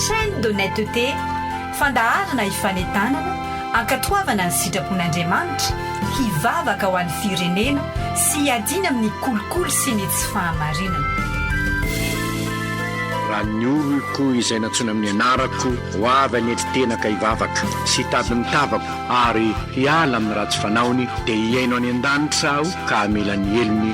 Chaîne d'honnêteté, fandaharana hifanentanana, ankatoavana ny sitrapon'Andriamanitra, hivavaka ho an'ny firenena sy hiadiana amin'ny kolikoly sy ny tsy fahamarinana. Raha ny oloko izay nantsoina amin'ny anarako ho avy any an-kitenaka hivavaka sy hitady ny tavako ary hiala amin'ny ratsy fanaony, dia hihaino any an-danitra aho ka hamela ny helony,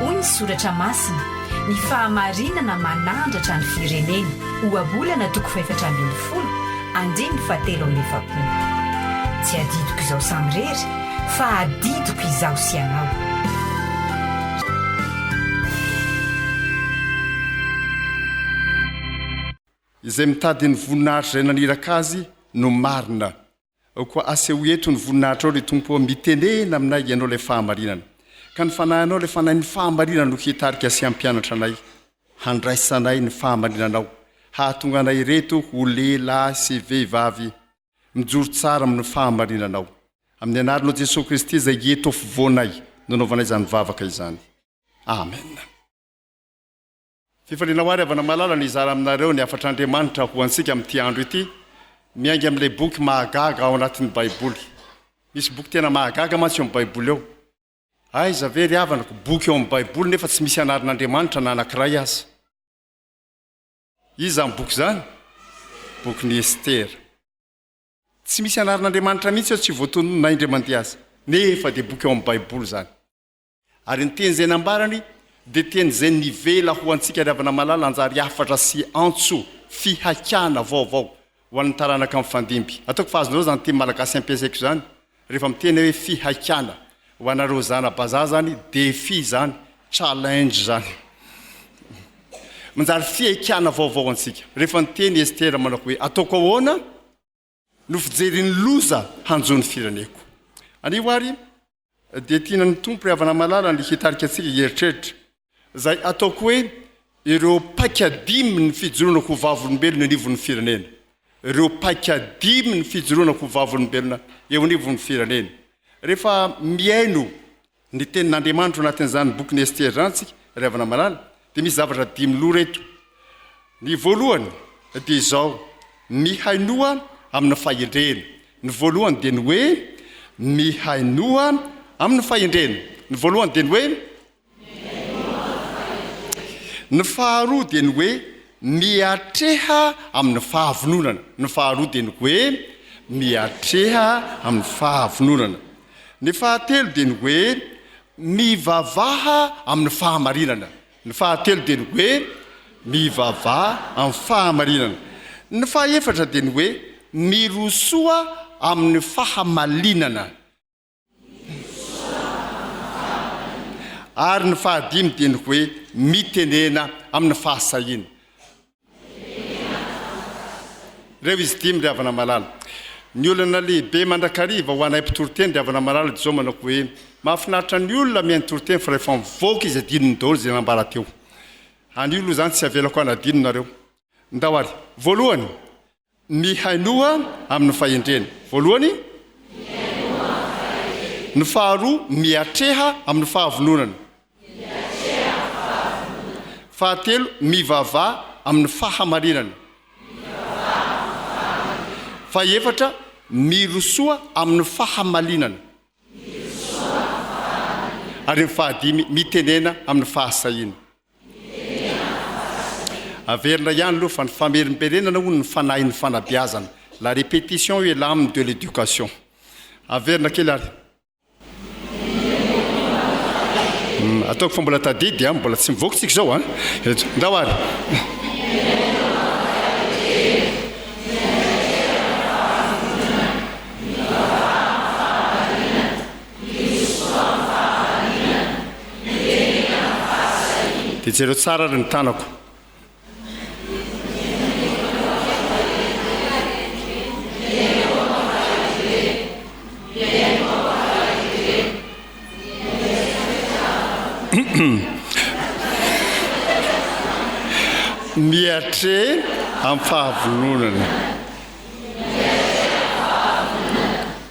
Hoy ny soratra masina, Ny fahamarinana manandratra ny firenena, Ohabolana toko fahefatra ambin'ny folo, andininy fahatelo amby efapolo. Tsy adidiko izao samirery, fa adidiko izaho sy ianao. Izay mitady ny voninahitr' izay naniraka azy no marina. Ao koa asehoy eto ny voninahitrao ry Tompo ô, mitenena aminay Ianao ilay fahamarinana, ka ny Fanahinao ilay Fanahin' ny fahamarinana no hitarika sy hampianatra anay, handraisanay ny fahamarinanao, hahatonga anay ireto ho lehilahy sy vehivavy mijoro tsara amin' ny fahamarinanao. Amin' ny Anaranao Jesoa Kristy izay eto afovoanay no anaovanay izany vavaka izany. Amena. Fifaliana ho ahy ry havana malala ny hizara aminareo ny hafatr'Andriamanitra ho antsika amin'ity andro ity, miainga amin'ilay boky mahagaga ao anatin'ny Baiboly. Misy boky tena mahagaga mantsy eo amin'ny Baiboly eo. Aiza ve ry havanako, boky eo amin'ny Baiboly nefa tsy misy anaran'Andriamanitra na anankiray aza. Iza izany boky izany? Bokin'i Estera. Tsy misy anaran'Andriamanitra mihitsy eo, tsy voatononina indray mandeha aza. Nefa dia boky ao amin'ny Baiboly izany. Ary ny teny izay nambarany dia teny izay nivela ho antsika ry havana malala hanjary hafatra sy antso fihaikana vaovao ho an'ny taranaka mifandimby. Ataoko fa azonareo izany teny malagasy ampiasaiko izany rehefa miteny aho hoe fihaikana. Ho anareo zana-bazaha izany défi izany, challenge izany. Manjary fihaikana vaovao antsika. Rehefa niteny i Estera manao hoe ataoko ahoana? no fijerin'ny loza hanjo ny fireneko. Anio ary dia tiana ny Tompo ry havana malala ny hitarika antsika hieritreritra izay ataoko hoe ireo paika dimy ny fijoroana ho vavolombelona eo anivon'ny firenena. Ireo paika dimy ny fijoroana ho vavolombelona eo anivon'ny firenena. Rehefa mihaino Ny tenin'Andriamanitra ao anatin'izany bokin'i Estere izany isika ry havana malala dia misy zavatra dimy lora eto. Ny voalohany dia izao, mihainoa amin'ny fahendrena. Ny voalohany dia ny hoe mihainoa amin'ny fahendrena. Ny voalohany dia ny hoe mihainoa amin'ny fahendrena. Ny faharoa dia ny hoe miatreha amin'ny fahavononana. Ny faharoa dia ny hoe miatreha amin'ny fahavononana. Ny fahatelo dia ny hoe mivavaha amin'ny fahamarinana. Ny fahatelo dia ny hoe mivavaha amin'ny fahamarinana. Ny fahefatra dia ny hoe mirosoa amin'ny fahamalinana. Ary ny fahadimy dia ny hoe mitenena amin'ny fahasahiana. Reo izy dimy ry havana malala. Ny olana lehibe mandrakariva ho anay mpitoriteny ry havana malala dia izao manao hoe mahafinaritra ny olona mihaino toriteny fa rehefa mivoaka izy adinony daholo izay nambara teo anio aloha izany tsy avelako hanadino nareo ndao ary voalohany Ny hainoa amin'ny fahendrena. Voalohany, ny faharoa, miatreha amin'ny fahavononana. Fahatelo, mivavaha amin'ny fahamarinana. Fahefatra, mirosoa amin'ny fahamalinana. Ary ny fahadimy, mitenena amin'ny fahasahiana. Averina ihany aloha fa ny famerimberenana hono ny fanahin'ny fanabeazana, la répétition est l'âme de l'éducation. Averina kely ary. Ataoko fa mbola tadidy an, mbola tsy mivoaka tsika izao an. Ndao ary. Dia jereo tsara ary ny tanako. Miatre amin'ny fahavononana.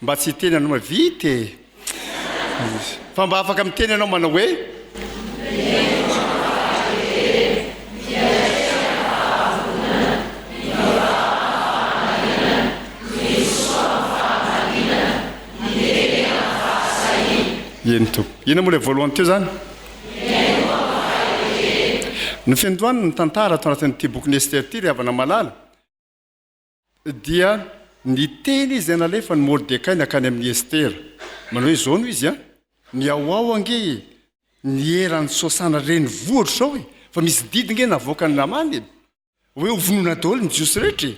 Mba tsy hiteny anao hoe vita e! Fa mba afaka miteny ianao manao hoe. Eny tompo. Ina moa ilay voalohany teo zany? Ny fendohany ny tantara ato anatin'ity bokin'i Esther ity ry havana malala. Dia niteny izy nalefany Mordekay nankany amin'i Estera, manao hoe izao no izy an, Mihaoao ange e! ny eran'i Sosana renivohitro izao e! fa misy didy nge navoakan'i Namana e! hoe ho vonoina daholo ny Jiosy rehetra e!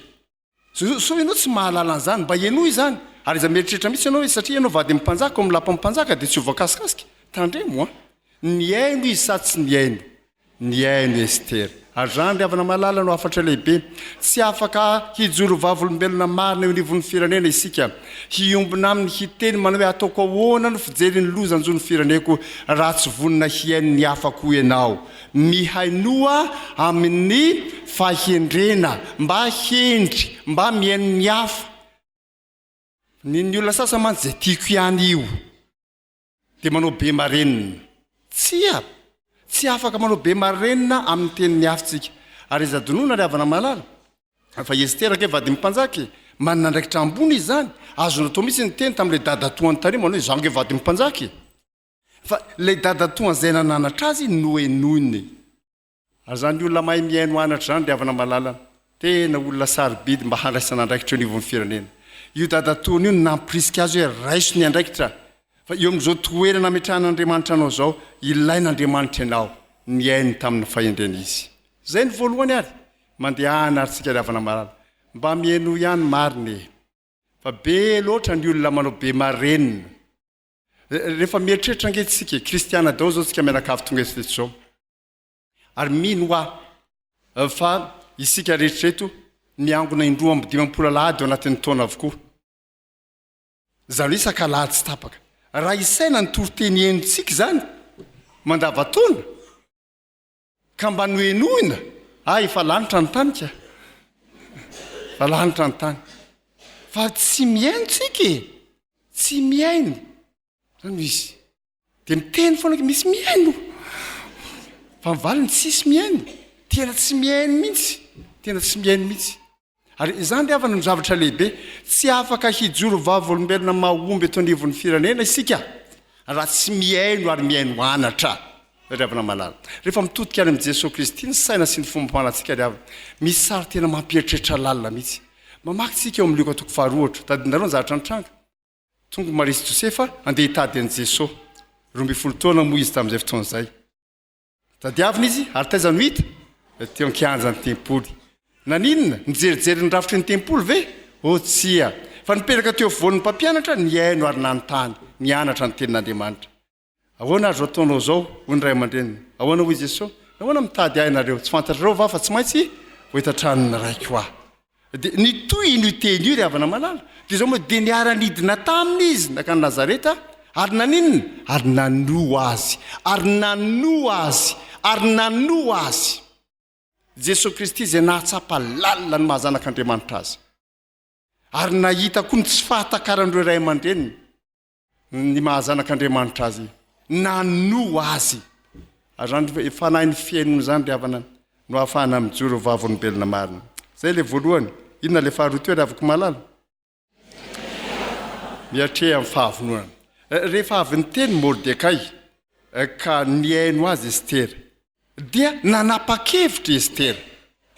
sao ianao tsy mahalala an'izany, mba henoy izany, ary aza mieritreritra mihitsy ianao hoe satria ianao vady amin'ny mpanjaka ao amin'ny lapan'ny mpanjaka dia tsy ho voakasikaska, tandremo an! nihaino izy sa tsy nihaino? Nihaino i Estera. Ary izany, ry havana malala, no hafatra lehibe. Tsy afaka hijoro vavolombelona marina eo anivon'ny firenena isika. Hiombona aminy hiteny manao hoe, Ataoko ahoana ny fijery ny loza hanjo ny fireneko raha tsy vonona hihaino ny hafa koa ianao? Mihainoa amin'ny fahendrena mba hendry, mba mihaino ny hafa. Ny ny olona sasany mantsy izay tiako ihany io. dia manao be marenina. Tsia! Tsy afaka manao be marenina amin'ny teniny hafa tsika. Ary iza donona ry havana malala? Fa i Estera ange vadin'ny mpanjaka e! Manana andraikitra ambony izy izany. Azony atao mihitsy niteny tamin'ilay dadatoany tany manao hoe, izaho ange vadin'ny mpanjaka e! Fa ilay dadatoany izay nananatra azy nohenoiny. Azany olona mahay mihaino anatra zany ry havana malala an! Tena olona sarobidy mba handraisana andraikitra eo anivon'ny firenena. Io dadatoany io no nampirisika azy hoe raiso ny andraikitra fa eo amin'izao toerana ametrahan'Andriamanitra anao zao ilain'Andriamanitra ianao, nihaino tamin'ny fahendrena izy. Zay no voalohany ary mandehana ary tsika ry havana malala mba mihainoa ihany marina e! Fa be loatra ny olona manao be marenina. Rehefa mieritreritra ange tsika e! Kristiana daholo zao tsika mianakavy tonga eto zao. Ary mino aho fa isika rehetra eto miangona indroa amby dimampolo alahady ao anatin'ny taona avokoa. Izany hoe isaka alahady tsy tapaka. Raha isaina ny toriteny henontsika izany mandavataona ka mba nohenoina, ah efa lanitra ny tany ka. Efa lanitra ny tany. Fa tsy mihaino tsika e. Tsy mihaino. Zany no izy. Dia miteny foana ke misy mihaino. Fa ny valiny tsisy mihaino. Tena tsy mihaino mihitsy. Tena tsy mihaino mihitsy. Ary izany ry havana no zavatra lehibe. Tsy afaka hijoro vavolombelona mahomby eto anivon'ny firenena isika raha tsy mihaino ary mihaino anatra. Ry havana malala. Rehefa mitodika any amin'i Jesoa Kristy ny saina sy ny fomam-panatsika ry havana. Misy sary tena mampieritreritra lalina mihitsy. Mamaky tsika eo amin'ny Lioka toko faharoa ohatra. Tadidinareo ny zavatra nitranga. Tonga i Maria sy Josefa handeha hitady an'i Jeso. Roa ambin'ny folo taona moa izy tamin'izay fotoana izay. Tadiavina izy ary taiza no hita? Teo an-kianjan'ny tempoly. Naninona? Nijerijery ny rafitry ny tempoly ve? Oh tsia! Fa nipetraka teo afovoan'ny mpampianatra, nihaino ary nanontany, nianatra ny Tenin'Andriamanitra. Ahoana ary izao ataonao izao? hoy ny ray aman-dreniny. Ahoana hoy Jesosy? Nahoana mitady ahy ianareo? Tsy fantatrareo va fa tsy maintsy ho eto an-tranon'ny Raiko aho? Dia nitohy iny teny io ry havana malala. Dia izao moa dia niara-nidina taminy izy nankany Nazareta ary naninona? Ary nanoa azy, ary nanoa azy, ary nanoa azy. Jesosy Kristy izay nahatsapa lalina ny maha-Zanak'Andriamanitra azy. Ary nahita koa ny tsy fahatakaran'ireo ray aman-dreniny. ny maha zanak'Andriamanitra azy, nano azy. Ary zany fanahin'ny fihainona zany ry havana no ahafahana mijoro ho vavolombelona marina. Zay le voalohany. Inona le faharoa teo ry havako malala? Miatreha amin'ny fahavononana. Rehefa avy niteny Mordekay ka nihaino azy Estera, Dia nanapa-kevitra i Estera,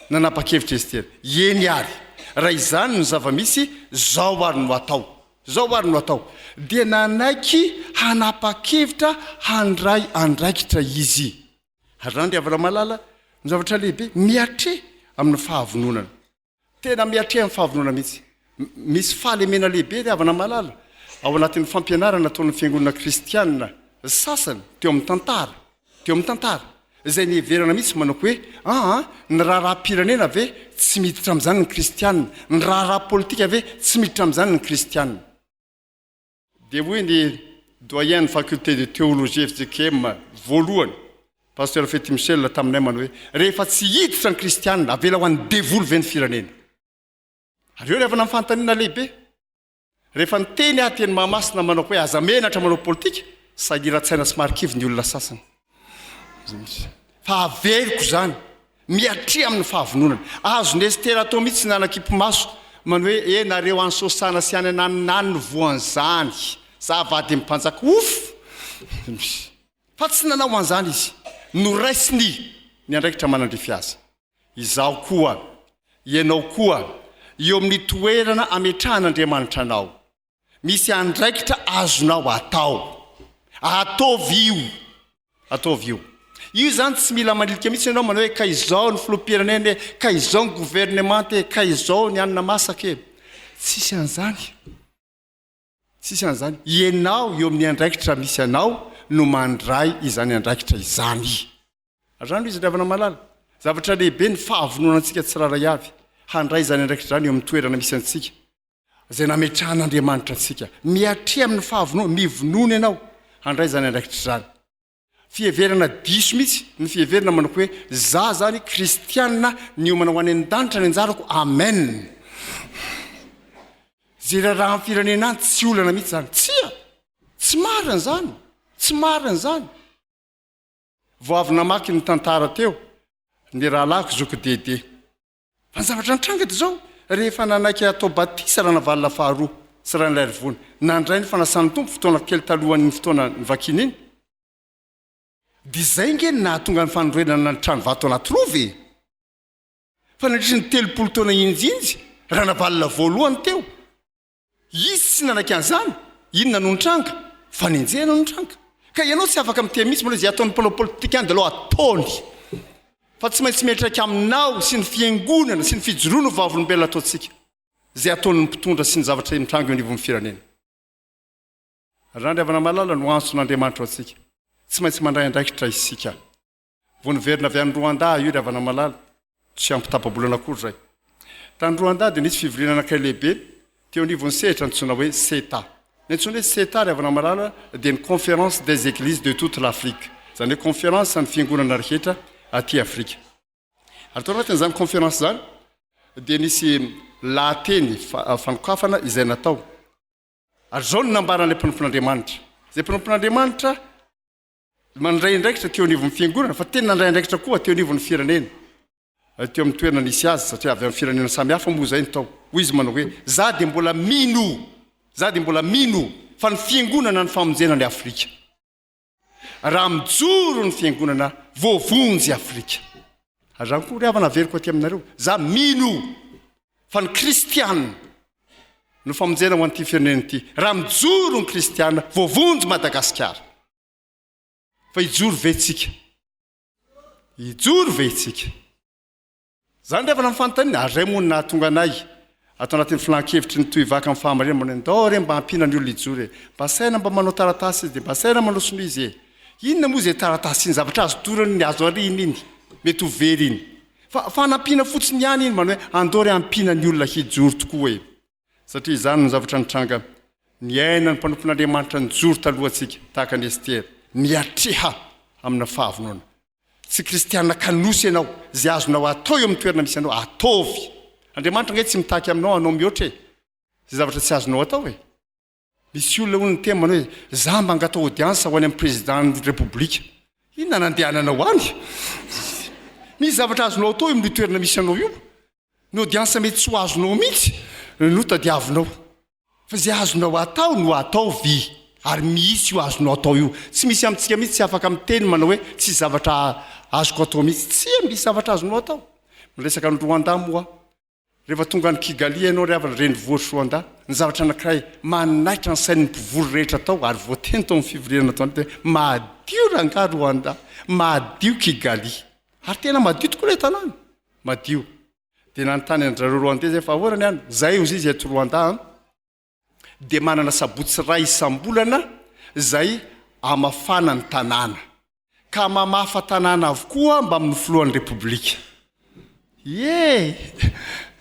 nanapa-kevitra i Estera, Eny àry, raha izany no zava-misy, izao àry no hatao, izao àry no hatao. Dia nanaiky hanapa-kevitra handray andraikitra izy. Ary izany ry havana malala no zavatra lehibe, miatreha amin'ny fahavononana. Tena miatrehan'ny fahavonona mihitsy. Misy fahalemena lehibe ry havana malala ao anatin'ny fampianarana ataon'ny fiangonana kristianina sasany teo amin'ny tantara, teo amin'ny tantara, izay niheverana mihitsy manao hoe aa, ny raharaham-pirenena ve tsy miditra amin'izany ny kristianina, ny raharaha politika ve tsy miditra amin'izany ny kristianina. Dia hoy ny Doyen ny Faculté de Théologie fjkm voalohany, Pasteur Fety Michel taminay manao hoe, rehefa tsy hiditra ny kristianina, avela ho an'ny devoly ve ny firenena? Ary eo ny avana amin'ny fanontaniana lehibe. Rehefa niteny aho teny Mahamasina manao hoe aza menatra manao politika, sahiran-tsaina sy marikivy ny olona sasany. Fa averiko izany, miatria amin'ny fahavononana. Azon'i Estera atao mihitsy ny hanakipi-maso, manao hoe, E, nareo any Sosana sy any ananonano no voan'izany. Za vadin'ny mpanjaka ofo! Fa tsy nanao an'izany izy. Noraisiny ny andraikitra manandrify azy. Izaho koa, ianao koa, eo amin'ny toerana ametrahan'Andriamanitra anao. Misy andraikitra azonao atao. Ataovy io. Ataovy io. Io zany tsy mila manilika mihitsy ianao manao hoe ka izao ny filoham-pirenena e, ka izao ny governemanta e, ka izao ny anona masaka e. Tsisy an'izany. Tsisy an'izany. Ianao eo amin'ny andraikitra misy anao no mandray izany andraikitra izany. Azany izy ry havana malala. Zavatra lehibe ny fahavononantsika tsirairay avy handray izany andraikitra izany eo amin'ny toerana misy antsika. izay nametrahan'Andriamanitra antsika. Mihatria amin'ny fahavononana, mivonono ianao handray izany andraikitra izany. Fiheverana diso mihitsy ny fiheverana manao hoe za izany kristianina niomana ho any an-danitra ny anjarako, amen! Izay raharahan'ny firenena any tsy olana mihitsy izany. Tsia! Tsy marina izany! Tsy marina izany! Vao avy namaky ny tantara teo ny rahalahiko zoky Dede. Fa ny zavatra nitranga dia izao, rehefa nanaiky hatao batisa Ranavalona faharoa sy Ranailarivoana, nandray ny fanasan'ny Tompo fotoana kely talohan'iny fotoana nivakiana iny, dia izay ange no nahatonga ny fanorenana ny trano vato anaty rova e! Fa nandritry ny telopolo taona hinjinja Ranavalona voalohany teo, Izy tsy nanaiky an'izany. Inona no nitranga? Fanenjehana no nitranga. Ka ianao tsy afaka mitia mihitsy manao izay ataon'ny mpanao politika any dalao ataony. Fa tsy maintsy miantraika aminao sy ny fiangonana sy ny fijoroana ho vavolombelona ataontsika izay ataon'ny mpitondra sy ny zavatra mitranga eo anivon'ny firenena. Randriavanamalala no antson'Andriamanitra ho antsika. Tsy maintsy mandray andraikitra isika. Vao niverina avy any Rwanda aho io ry havana malala, tsy ampy tapa-bolana akory izay. Tany Rwanda dia nisy fivoriana anankiray lehibe teo anivon'ny sehatra antsoina hoe CETA. Ny antsoina hoe CETA ry havana malala dia ny Conference des Eglises de toute l'Afrique, izany hoe Konferansan'ny Fiangonana rehetra aty Afrika. Ary tao anatin'izany Konferansa izany dia nisy lahateny fanokafana izay natao. Ary izao no nambaran'ilay mpanompon'Andriamanitra. Izay mpanompon'Andriamanitra. mandray andraikitra teo anivon'ny fiangonana fa tena nandray andraikitra koa teo anivon'ny firenena teo amin'ny toerana nisy azy satria avy amin'ny firenena samy hafa moa izay ny tao hoy izy manao hoe za dia mbola mino za dia mbola mino fa ny fiangonana ny famonjena ny Afrika raha mijoro ny fiangonana voavonjy Afrika Azany koa ry havana averiko aty aminareo, za mino fa ny kristiana no famonjena ho an'ity firenena ity, raha mijoro ny kristiana voavonjy Madagasikara. Fa hijoro ve tsika? Hijoro ve tsika? Zany ry havana ny fanontanina, ary zay moa no nahatonga anay Ato anatin'ny filan-kevitry ny tohivaka amin'ny fahamarinana mba hoe ndao re mba ampiana ny olona hijoro e! Mba saina mba manao taratasy izy e! Mba saina manao sonia izy e! Inona moa izay taratasy iny? Zavatra azo dorana iny, azo ariana iny, mety ho very iny. Fa fanampiana fotsiny ihany iny mba hoe andao re ampiana ny olona hijoro tokoa e! Satria izany no zavatra nitranga, niaina ny mpanompon'Andriamanitra nijoro talohantsika, tahaka an'i Estera, niatreha amina fahavonona. tsy kristiana kanosa ianao, izay azonao atao eo amin'ny toerana misy anao, ataovy. Andriamanitra ange tsy mitaky aminao hanao mihoatra e! Izay zavatra tsy azonao atao e! Misy olona hono miteny manao hoe, za mba angatao audience ho any amin'ny Président-n'ny Repoblika. Inona no andehananao any? Misy zavatra azonao atao eo amin'io toerana misy anao io. Ny audience mety tsy ho azonao mihitsy no tadiavinao fa izay azonao atao no ataovy ary mihitsy io azonao atao io. Tsy misy amintsika mihitsy tsy afaka miteny manao hoe tsisy zavatra azoko atao mihitsy. Tsia misy zavatra azonao atao. Ny resaka an'i Rwanda moa rehefa tonga any Kigali ianao ry havana renivohitr'i Rwanda, ny zavatra anankiray manaitra ny sain'ny mpivory rehetra tao ary voateny tao amin'ny fivoriana natao an'ity hoe madio rangahy Rwanda, madio Kigali. Ary tena madio tokoa ilay tanàna. madio dia nanontany an-dry zareo Rwandais izay fa ahoana ny any? Izahay, hoy izy, eto Rwanda an, dia manana sabotsy iray isam-bolana izay hamafana ny tanàna, ka mamafa tanàna avokoa mbamin'ny filohan'ny Repoblika. Ie!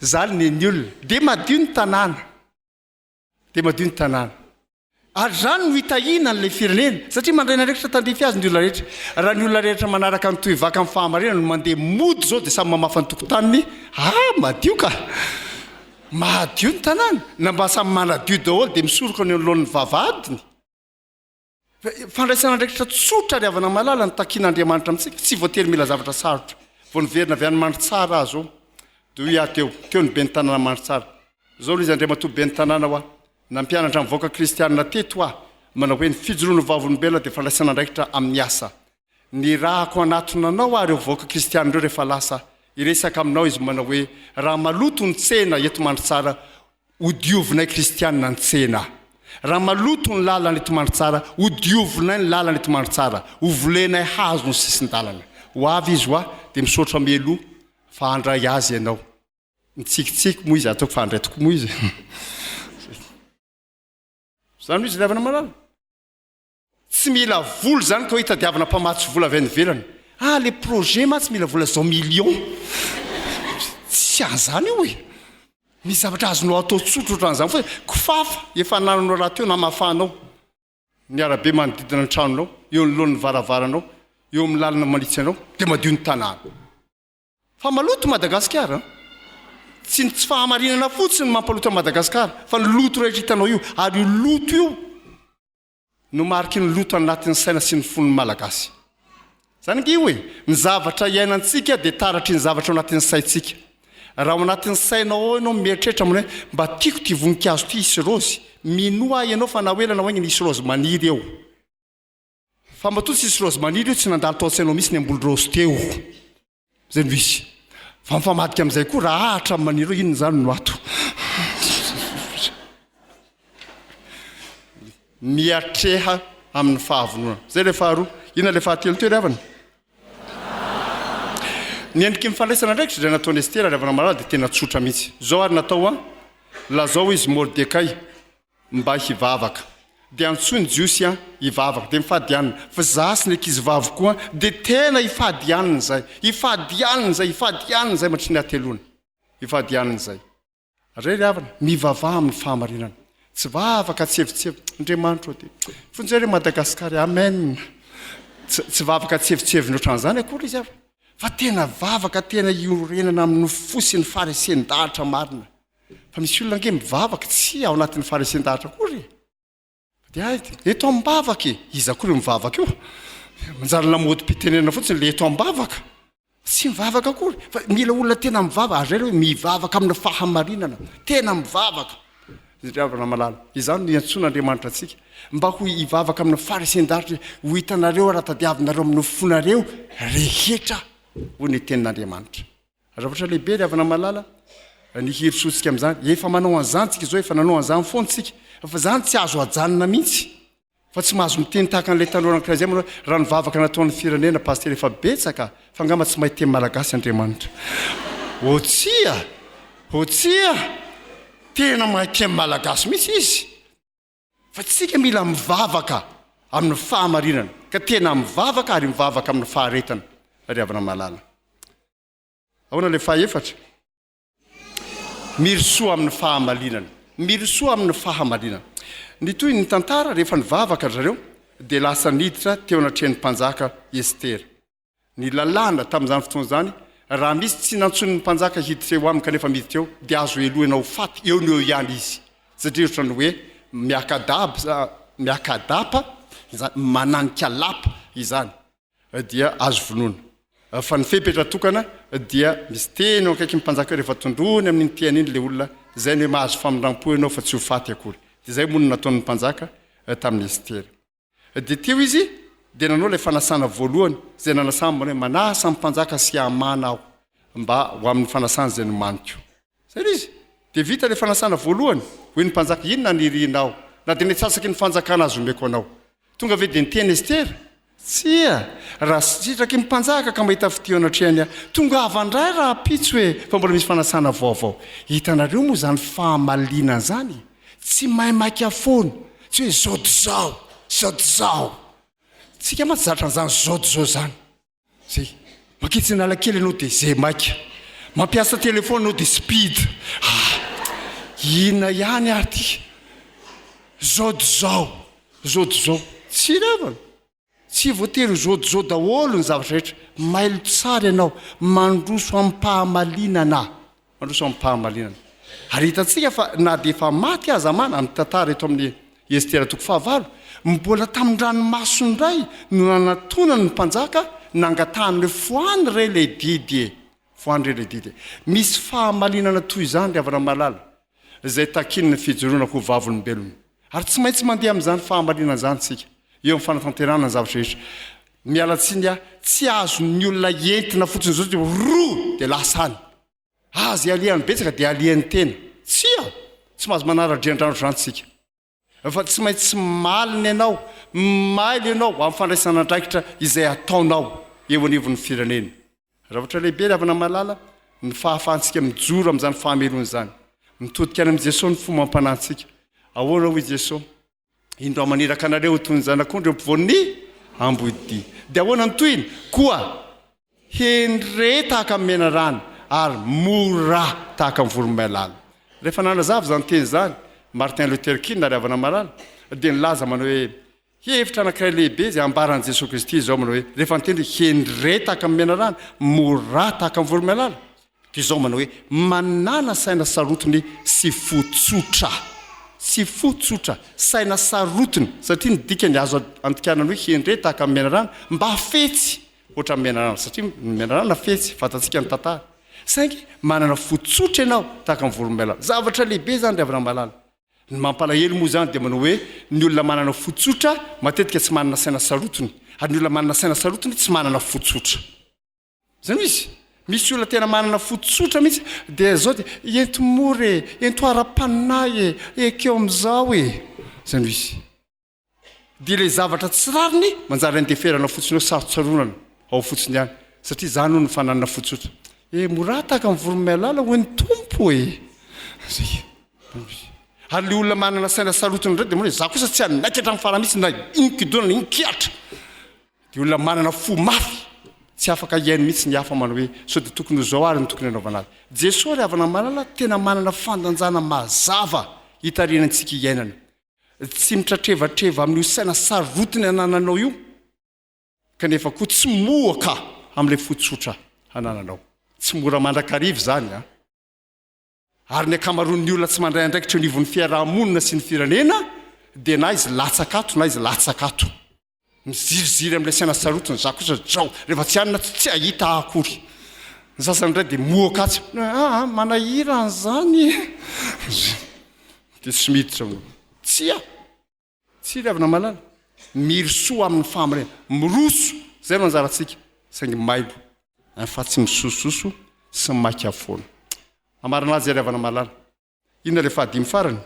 Zany nen'ny olona. Dia madio ny tanàna. dia madio ny tanàna. Ary izany no hitahiana an'ilay firenena, satria mandray ny andraikitra tandrify azy ny olona rehetra. Raha ny olona rehetra manaraka ny tohivaka amin'ny fahamarinana no mandeha mody izao dia samy mamafa ny tokotaniny, ah, madio ka! Madio ny tanàna, na mba samy manadio daholo dia misoroka ny eo anoloan'ny vavahadiny. Fandraisana andraikitra tsotra ary havana-malala no takian'Andriamanitra amintsika. Tsy voatery mila zavatra sarotra. Vao niverina avy any Mandritsara aho izao, dia hoy aho teo, teo ny ben'ny tanàna Mandritsara. Izao ilay izy, Andriamatoa ben'ny tanàna hoa, nampianatra ny vahoaka kristianina teto aho, manao hoe, ny fijoroan'ny vavolombelona dia fandraisana andraikitra amin'ny asa. Ny rahako hanatona anao ary ireo vahoaka kristiana ireo rehefa lasa hiresaka aminao izy manao hoe, raha maloto ny tsena eto Mandritsara hodiovinay kristiana ny tsena. Raha maloto ny lalana eto Mandritsara hodiovinay ny lalana eto Mandritsara, hovolenay hazo ny sisin-dalana. Ho avy izy ho'a, dia misaotra mialoha fa handray azy ianao. Nitsikitsiky moa izy, ataoko fa handray tokoa moa izy e. Izany hoy izy ilay havana malala. Tsy mila vola zany koa hitadiavana mpamatsy vola avy any ivelany. Ah le projet mantsy mila vola zao millions. Tsy an zany io e. Misy zavatra azonao atao tsotra otran'izany foana. Kofafa efa anananao rahateo namafanao ny arabe manodidina ny tranonao, eo anoloan'ny varavaranao, eo amin'ny lalana manitsy anao dia madio ny tanàna. Fa maloto i Madagasikara an. Tsy ny tsy fahamarinana fotsiny no mampaloto an'i Madagasikara fa ny loto rehetra hitanao io. Ary io loto io. no mariky ny loto anatin'ny saina sy ny fon'ny Malagasy. Izany ange io e! Ny zavatra iainantsika dia taratry ny zavatra ao anatin'ny saintsika. Raha ao anatin'ny sainao ao ianao mieritreritra manao hoe mba tiako ity voninkazo ity hisy raozy, minoa ahy ianao fa na ho ela na ho aingana hisy raozy maniry eo. Fa matoa tsy hisy raozy maniry eo, tsy nandalo tao an-tsainao mihitsy ny hamboly raozy teo. Zay no izy. Fa mifamadika amin'izay koa raha ahatra amin'ny maniry hoe inona izany no ato. Miatreha amin'ny fahavononana. Zay ilay faharoa. Inona ilay fahatelo teo ry havana? Ny endriky ny fandraisana andraikitra izay nataon'i Estera ry havana malala dia tena tsotra mihitsy. Izao ary natao an, lazao izy Mordekay. Mba hivavaka. Dia antsoy ny Jiosy an, hivavaka. Dia mifady hanina. Fa za sy ny ankizivaviko koa dia tena hifady hanina izay. Hifady hanina izay, hifady hanina izay mandritry ny hateloana. Hifady hanina izay. Ary ry havana, mivavaha amin'ny fahamarinana. Tsy vavaka tsievotsievo. Andriamanitra ô, dia vonjeo re Madagasikara e. Amen. Tsy, tsy vavaka tsievotsievo ohatran'izany akory izy havana. Fa tena vavaka tena iorenana amin'ny fo sy ny faharesen-dalitra marina. Fa misy olona ange mivavaka, tsia ao anatin'ny faharesen-dahatra akory e! Fa dia hay, eto am-bavaka e! Iza koa ireo mivavaka io? Manjary lamôdim-pitenenana fotsiny ilay eto am-bavaka. Tsy mivavaka akory. Fa mila olona tena mivavaka. Ary izay ilay hoe mivavaka amina fahamarinana. Tena mivavaka. Ry havana malala, izany no iantsoan'Andriamanitra antsika. Mba ho hivavaka amina faharesen-dahatra hoe, Ho hitanareo ary hahatadiavinareo amin'ny fonareo rehetra, hoy ny tenin'Andriamanitra. Zavatra lehibe ry havana malala ny herisoantsika amin'izany. Efa manao an'izany tsika izao, efa nanao an'izany foana tsika. Fa izany tsy azo ajanona mihitsy. Fa tsy mahazo miteny tahaka an'ilay tanora anankiray izay manao hoe, raha ny vavaka nataon'ny firenena Pasitera efa betsaka fa angamba tsy mahay teny malagasy Andriamanitra. Oh tsia! Oh tsia! Tena mahay teny malagasy mihitsy izy. Fa tsika mila mivavaka amin'ny fahamarinana ka tena mivavaka ary mivavaka amin'ny faharetana ry havana malala. Ahoana ilay fahefatra? Mirisoa amin'ny fahamarinana. Mirisoa amin'ny fahamarinana. Ny toy ny tantara rehefa nivavaka ry zareo dia lasa niditra teo anatrehan'ny mpanjaka Estera. Ny lalàna tamin'izany fotoana izany, raha misy tsy nantsoiny ny mpanjaka hiditra eo aminy kanefa miditra eo, dia azo helohina ho faty eo no eo ihany izy, satria ohatran'ny hoe miaka-daba, miaka-dapa izany, mananika lapa izany, dia azo vonoina, fa ny fepetra tokana dia misy teny eo akaikin'ny mpanjaka eo, rehefa tondroiny amin'iny tehany iny ilay olona, izay no hoe mahazo famindram-po ianao fa tsy ho faty akory. Dia izay moa no nataon'ny mpanjaka tamin'i Estera. Dia teo izy dia nanao ilay fanasana voalohany, izay nanasany manao hoe, Manasa ny mpanjaka sy Hamana aho, mba ho amin'ny fanasana izay nomaniko. Izay ilay izy. Dia vita ilay fanasana voalohany. Hoy ny mpanjaka, Inona no irianao? Na dia ny antsasaky ny fanjakana aza omeko anao. Tonga ve dia niteny Estera? Tsia. Raha sitraky ny mpanjaka ka mahita fitia eo anatrehany ahy, tongava indray rahampitso e! Fa mbola misy fanasana vaovao. Hitanareo moa izany fahamaliana izany e! Tsy mahay maika foana, tsy hoe zao dia zao, zao dia zao. Tsika mantsy zatra an'izany zao dia zao zany. Zay, mankitsy analakely ianao dia zay maika. Mampiasa telephone ianao dia speed. Ah! Inona ihany ary ity? Zao dia zao, zao dia zao. Tsy revana. Tsy voatery ho zôdizô daholo ny zavatra rehetra. Mailo tsara ianao, mandroso amim-pahamalinana. Mandroso amim-pahamalinana. Ary hitantsika fa na dia efa maty aza Amana, ny tantara eto amin'ny Estera toko fahavalo, mbola tamin-dranomaso indray no nanatonany ny mpanjaka nangatahany hoe, Fohano re ilay didy e! Fohano re ilay didy e! Misy fahamalinana toy izany ry havana malala. izay takian'ny fijoroana ho vavolombelona. Ary tsy maintsy mandeha amin'izany fahamarinana izany isika, eo amin'ny fanatanterahana ny zavatra rehetra. Miala tsiny aho, tsy azon'ny olona entina fotsiny izao satria roa dia lasa any. Aza ialian'ny betsaka dia alian'ny tena. Tsia! Tsy mahazo manara-drian-drano izany isika. Fa tsy maintsy malina ianao, mailo ianao amin'ny fandraisana andraikitra izay ataonao eo anivon'ny firenena. Rafitra lehibe ry havana malala ny fahafahantsika mijoro amin'izany fahamelohana izany. Mitodika any amin'i Jesoa ny fomam-panahintsika. Ahoana hoy Jesoa? Indro aho maniraka anareo ho toy ny zanak'ondry eo ampovoan'ny ambohidia. Dia ahoana ny tohiny? Koa. Hendre tahaka ny menarana ary mora tahaka ny voromailala. Rehefa nanazava izany teny izany Martin Luther King na Ry Havana Marary dia nilaza manao hoe, Hevitra anankiray lehibe izay ambaran'i Jesoa Kristy izao manao hoe, rehefa niteny hoe, Hendre tahaka ny menarana, mora tahaka ny voromailala, Toy izao manao hoe, Manàna saina sarotiny sy fo tsotra. Sy fo tsotra. Saina sarotiny. Satria ny dikany azo andikàna ny hoe hendre tahaka ny menarana, mba fetsy hoatra ny menarana. Satria ny menarana fetsy, fantatsika ny tantara. Saingy manana fo tsotra ianao tahaka ny voromailala. Zavatra lehibe izany ry havana malala. Ny mampalahelo moa izany dia manao hoe, ny olona manana fo tsotra matetika tsy manana saina sarotiny, ary ny olona manana saina sarotiny tsy manana fo tsotra. Izany izy. Misy olona tena manana fo tsotra mihitsy dia izao dia ento mora e, ento ara-panahy e, ekeo amin'izao e. Izany izy. Dia ilay zavatra tsy rariny manjary andeferana fotsiny eo, sarotsaronana ao fotsiny ihany, satria izany hono ny fananana fo tsotra. E mora tahaka ny voromailala hoy ny Tompo e. Izay. Ary ilay olona manana saina sarotiny indray dia mora, izaho kosa tsy hanaiky hatramin'ny farany mihitsy na inona-kodona na inona-kihatra. Dia olona manana fo mafy, tsy afaka hihaino mihitsy ny hafa manao hoe, sao dia tokony ho izao ary no tokony hanaovana azy. Jesoa ry havana malala tena manana fandanjana mazava hitarihana antsika hiainana. Tsy mitratrevatreva amin'io saina sarotiny anananao io, kanefa koa tsy mohoka amin'ilay fo tsotra anananao. Tsy mora mandrakariva izany an! Ary ny ankamaroan'ny olona tsy mandray andraikitra eo anivon'ny fiaraha-monina sy ny firenena dia na izy latsaka ato na izy latsaka ato. Miziriziry amin'ilay saina sarotiny izaho kosa zao, rehefa tsy any na tsy tsy hahita ahy akory. Ny sasany indray dia mohoka atsy, aa manahira an'izany e! Dia tsy miditra ao. Tsia! Tsiry avy namalala. Mirosoa amin'ny fahamarinana. Miroso! Izay no anjarantsika, saingy maibo. Any fa tsy misosososo sy maika foana. Hamarina azy ary havana-mahalala. Inona ilay fahadimy farany?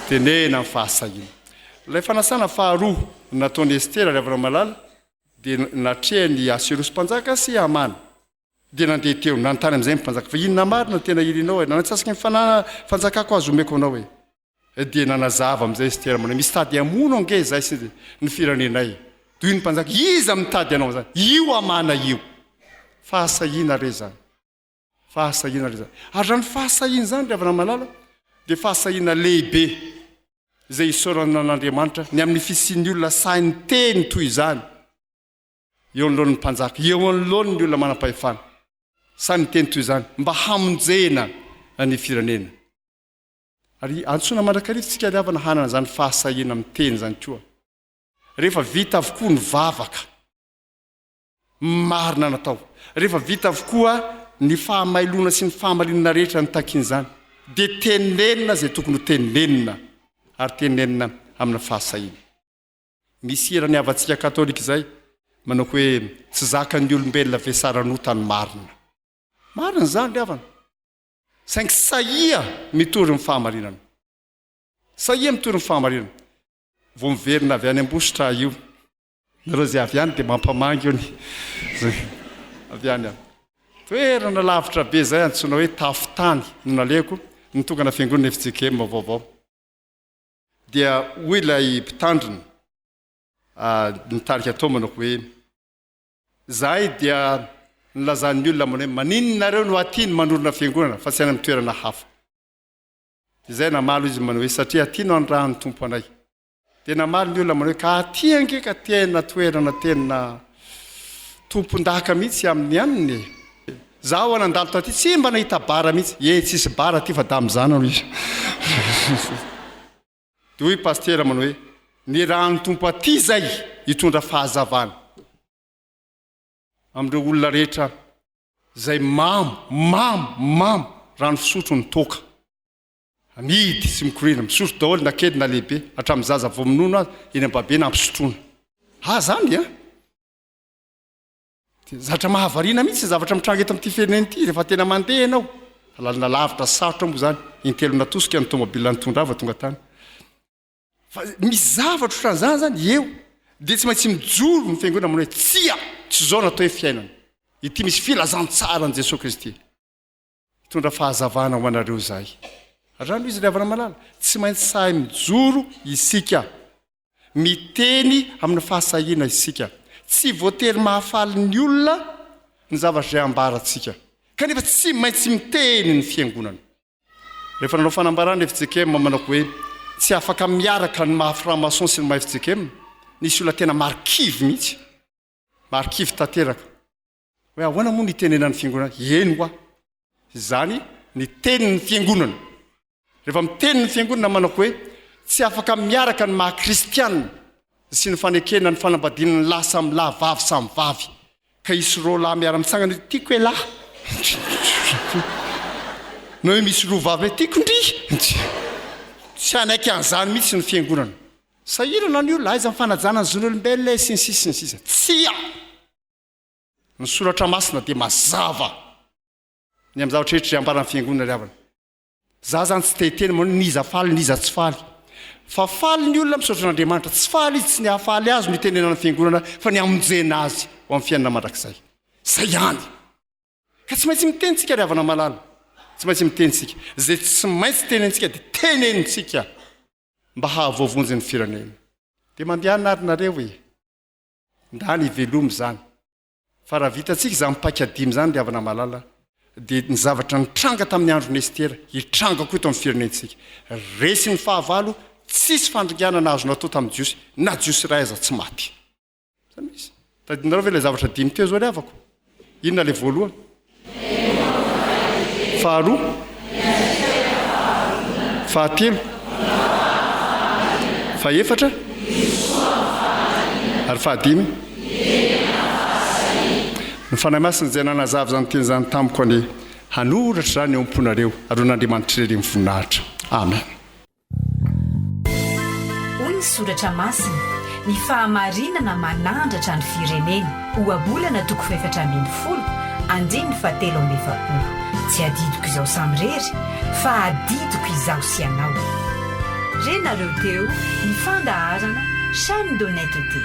Tenena amin'ny fahasahiana. Ilay fanasana faharoa nataon'i Estera ary havana-mahalala dia natrehany i Aseorosy mpanjaka sy Hamana. Dia nandeha teo, nanontany amin'izay ny mpanjaka fa inona marina no tena irinao e? Nanatsasaky ny fanjakako aza omeko anao e! dia nanazava amin'izay Estera manahy, misy tady hamono ange izay sy ny firenenay. Dia hoy ny mpanjaka, iza mitady hanao an'izany? Io Hamana io. Fahasahiana re izany. Fahasahiana re izany. Ary izany fahasahiana izany, ry havana malala, dia fahasahiana lehibe izay isaorana an'Andriamanitra ny amin'ny fisian'ny olona sahy niteny toy izany eo anoloan'ny mpanjaka, eo anoloan'ny olona manam-pahefana. Sahy niteny toy izany mba hamonjena ny firenena. Ary antsoina mandrakariva isika ry havana hanana izany fahasahiana miteny izany koa. Rehefa vita avokoa ny vavaka marina natao, rehefa vita avokoa ny fahamailoana sy ny fahamarinana rehetra nitakian'izany, dia tenenina izay tokony ho tenenina, ary tenenina amina fahasahiana. Misy hira ny havantsika katolika izay manao hoe, Tsy zakan'ny olombelona ve saran'ota ny marina? Marina izany ry havana. Saingy sahia mitory ny fahamarinana. Sahia mitory ny fahamarinana. Vao miverina avy any Ambositra aho io. Nareo izay avy any dia mampamangy ony. Izay avy any aho. Toerana lavitra be izay antsoina hoe Tafotany no nalehako, nitokana fiangonana fjkm vaovao. Dia hoy ilay mpitandrina, nitarika tao manako hoe. Zahay dia nilazan'ny olona ambony hoe maninona nareo no aty no manorina fiangonana fa tsy any amin'ny toerana hafa. Dia zay namaly izy manao hoe satria aty no anirahan'ny Tompo anay. Dia namaly ny olona manao hoe ka aty ange ka tena toerana tena tompondaka mihitsy amin'ny anona e. Zaho ho'a nandalo taty tsy mba nahita bara mihitsy. Ee tsisy bara aty fa damizana hoy izy. Dia hoy Pasitera manao hoe, ny ran'ny Tompo aty izay hitondra fahazavana amin'ireo olona rehetra izay mamo, mamo, mamo rano fisotro ny toaka. Amidy sy mikoriana, misotro daholo na kely na lehibe, hatramin'ny zaza vao minono aza, eny am-babena ampisotroina. Ah, zany an! Tena zatra mahavariana mihitsy ny zavatra mitranga eto amin'ity firenena ity rehefa tena mandeha ianao. Lalana lavitra sy sarotra moa izany, intelo natosika ny tômôbila nitondra ahy vao tonga tany. Fa misy zavatra ohatran'izany izany eo, dia tsy maintsy mijoro ny fiangonana manao hoe tsia, tsy izao no atao hoe fiainana. Ity misy filazantsaran'i Jesoa Kristy. Mitondra fahazavana ho anareo izahay. Rano izy ry havana malala, tsy maintsy sahy mijoro isika. Miteny amina fahasahiana isika. Tsy voatery mahafaly ny olona ny zavatra izay ambarantsika. Kanefa tsy maintsy miteny ny fiangonana. Rehefa nanao fanambarana i fjkm manako hoe tsy afaka miaraka ny maha franc-maçon sy ny maha fjkm, nisy olona tena marikivy mihitsy. Marikivy tanteraka. Hoe ahoana moa ny itenenan'ny fiangonana? Eny hoa, izany ny tenin'ny fiangonana. Rehefa miteny ny fiangonana manako hoe tsy afaka miaraka ny maha kristiana sy ny fanekena ny fanambadiana ny lahy samy lahy, vavy samy vavy, ka hisy roa lahy miara-mitsangana hoe tiako elah, na hoe misy roa vavy hoe tiako ndry, tsy hanaiky an'izany mihitsy ny fiangonana. Sahirana ny olona, aiza ny fanajana ny zon'olombelona e, sy ny sisa sy ny sisa. Tsia! Ny soratra masina dia mazava ny amin'ny zavatra rehetra izay ambaran'ny fiangonana ry havana. Za zany tsy te-hiteny moa n'iza faly n'iza tsy faly. Fa faly ny olona misaotra an'Andriamanitra. Tsy faly izy tsy ny hahafaly azy no itenenan'ny fiangonana fa ny hamonjena azy ho amin'ny fiainana mandrakizay. Izay ihany. Ka tsy maintsy miteny tsika ry havana malala. Tsy maintsy miteny tsika. Izay tsy maintsy tenentsika dia tenentsika mba hahavoavonjy ny firenena. Dia mandehana ary nareo e. ndany hivelomy izany fa raha vitantsika izany paika dimy izany ry havana malala dia ny zavatra nitranga tamin'ny andron'i Estera hitranga koa eto amin'ny firenentsika resy ny fahavalo tsisy fandringana nahazo natao tamin'ny jiosy na jiosy iray aza tsy maty izany misy tadinareo ve ilay zavatra dimy teo izao ry havako Inona ilay voalohany? Faharoa? Fahatelo? Fahefatra? Ary fahadimy? Ny Fanahy Masina izay nanazava izany teny izany tamiko anie hanoratra izany eo am-ponareo ary ho an'Andriamanitra irery ny voninahitra. Amen. Hoy ny Soratra Masina, Ny fahamarinana manandratra ny firenena. Ohabolana toko fahefatra ambin'ny folo, andininy fahatelo amby efapolo. Tsy adidiko izao samirery, fa adidiko izaho sy ianao. Re nareo teo ny fandaharana Chaine d'honnêteté.